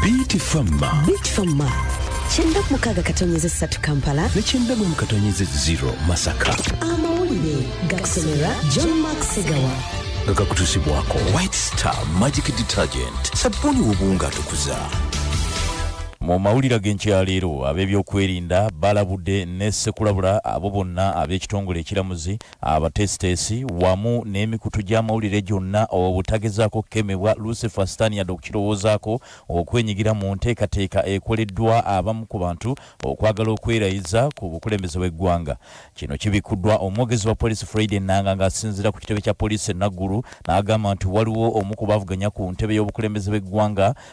Bitfamma. Bitfamma. Kyenda ku mukaaga katonyeza essatu Kampala. Ne kyenda mu katonyeza zero Masaka. Amawulire gakusomera John Mark Segawa. Nga gakutuusibwako White Star Magic Detergent. Sabbuuni w'obuwunga atukuza. Mu mawulira g'enkyaleero ab'ebyokwerinda balabudde ne ssekulabula abo bonna ab'ekitongole ekiramuzi abateesiteesi wamu n'emikutu gy'amawulire gyonna obutagezaako kukemebwa lucifer sitaani yadde okukirowoozaako okwenyigira mu nteekateeka ekoleddwa abamu ku bantu okwagala okwerayiza ku bukulembeze bw'eggwanga kino kibikuddwa omwogezi wa poliisi friday nanga ng'asinziira ku kitebe kya poliisi enaggulu n'agamba nti waliwo omu ku bavuganya ku ntebe y'obukulembeze bw'eggwanga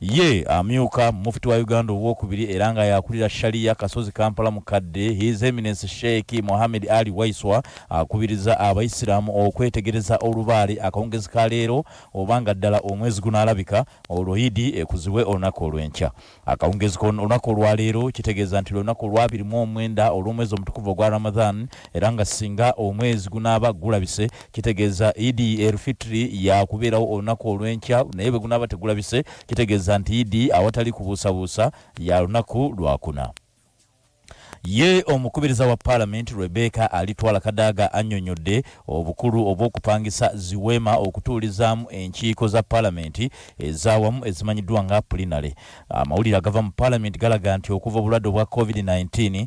ye amyuka mufti wa uganda owokubiri era nga yakulira shaliya kasozi kampala mukadde his eminence sheikh mohammed ali waiswa akubiriza abaisiraamu okwetegereza olubaale akawungezi ka leero oba nga ddala omwezi gunaalabika olwo idi ekuzibwe olunaku olw'enkya akawungezi kolunaku olwaleero kitegeeza nti lunaku olwabiri mu omwenda olw'omwezi omutukuvu ogwa ramadhan era nga singa omwezi gunaaba gulabise kitegeeza idi elfitri yakubeerawo olunaku olw'enkya naye bwe gunaaba tegulabise kitegeeza nti idi awatali kubuusabuusa ya lunaku lwakuna ye omukubiriza wa paalamenti rebeka alitwala kadaaga annyonnyodde obukulu obw'okupangisa ziweema okutuulizaamu enkiiko za paalamenti ezaawamu ezimanyiddwa nga pulinale amawulire agava mu paalamenti galaga nti okuva obulwadde obwa covid-19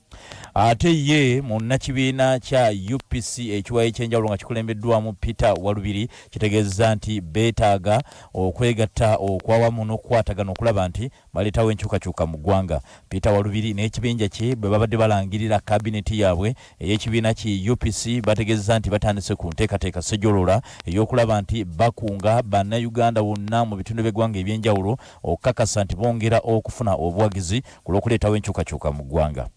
ate ye munnakibiina kya upc ekiwayo ekyenjawulo nga kikulembeddwamu peter walubiri kitegeeza nti beetaaga okwegatta okwawamu n'okukwatagana okulaba nti baleetawo enkyukakyuka mu ggwanga peter walubiri n'ekibinja kye bwe babadde balangirira kabineti yaabwe ey'ekibiina ki upc bategeeza nti batandise ku nteekateeka sejolola ey'okulaba nti bakunga bannayuganda wonna mu bitundu by'eggwanga ebyenjawulo okukakasa nti bongera okufuna obuwagizi ku lw'okuleetawo enkyukakyuka mu ggwanga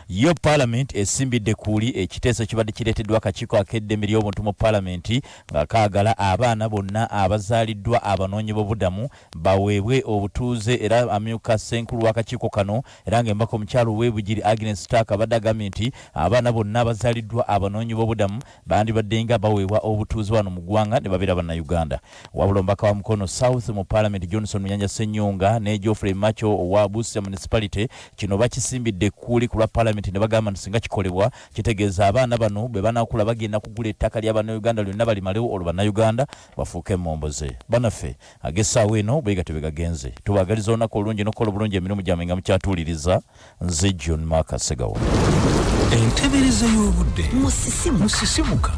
yo palamenti esimbidde kuuli ekiteeso kibadde kireeteddwa akakiiko ak'eddembe ly'obuntu mu palamenti nga kaagala abaana bonna abazaaliddwa abanoonyi b'obudamu baweebwe obutuuze era amyuka ssenkulu w'akakiiko kano era ng'embaka omukyalo w'ebugiri agnes stark abadde agambye nti abaana bonna abazaaliddwa abanoonyi b'obudamu bandibadde nga baweebwa obutuuze wano mu ggwanga ne babeera bannayuganda wabula omubaka wa mukono south mu paalamenti johnson munyanja senyonga ne geoffrey macho owa busia municipality kino bakisimbidde ekkuuli ku lwa paalamenti ne bagamba nti singa kikolebwa kitegeeza abaana bano bwe banakula bagenda kugula ettaka lya bannayuganda lyonna balimalewo olwo bannayuganda bafuuke emomboze banaffe ag'essaawa eno bwegatyo bwe gagenze tubagaliza olunaku olungi n'okukola obulungi emirimu gyamwe nga mukyatuuliriza nze john mark segawa entebereza y'obudde musisimuka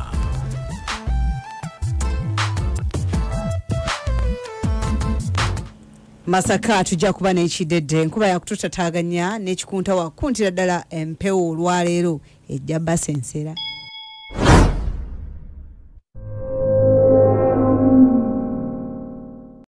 masaka tujja kuba n'ekidedde enkuba yakututataganya n'ekikunta wakuntira ddala empewo olwaleero ejja basensera